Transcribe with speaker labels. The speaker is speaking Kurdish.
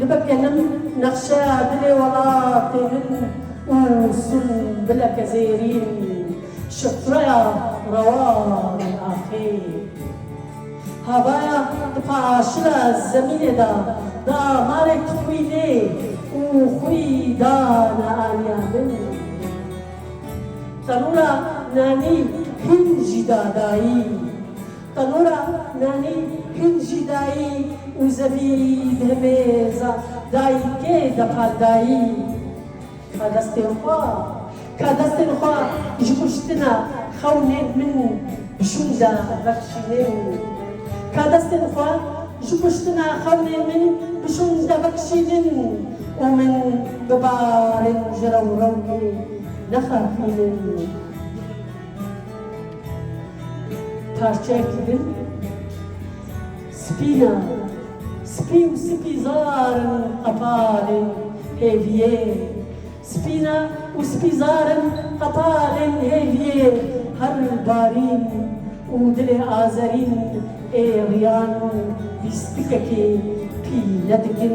Speaker 1: Dibe kelim nexşe dilê welatê min û sunbileke zêrîn şifreya rewanên axê. Havaya di paşila zemînê de di amarê tu xwî lê û xwî dane aliya min. Tenûra nanî hin jî da dayî. Tenora nanî hin jî dayî û zevî di himêza dayîkê de qal dayî ka destên xwe ka destên xwe ji kuştina xewnên min şûnda vekişînin ka destên xwe ji kuştina xewnên min bi şûnda vekişînin û min bi barên ji rewrewkê nexafînin. Parçeyek din spîn e. Spî û sipî zar in hetalên hêviyê. Spîn e û sipî zar in hetalên hêviyê. Her barîn û dilê azerîn ê riyan lîstikekê pî nedikin.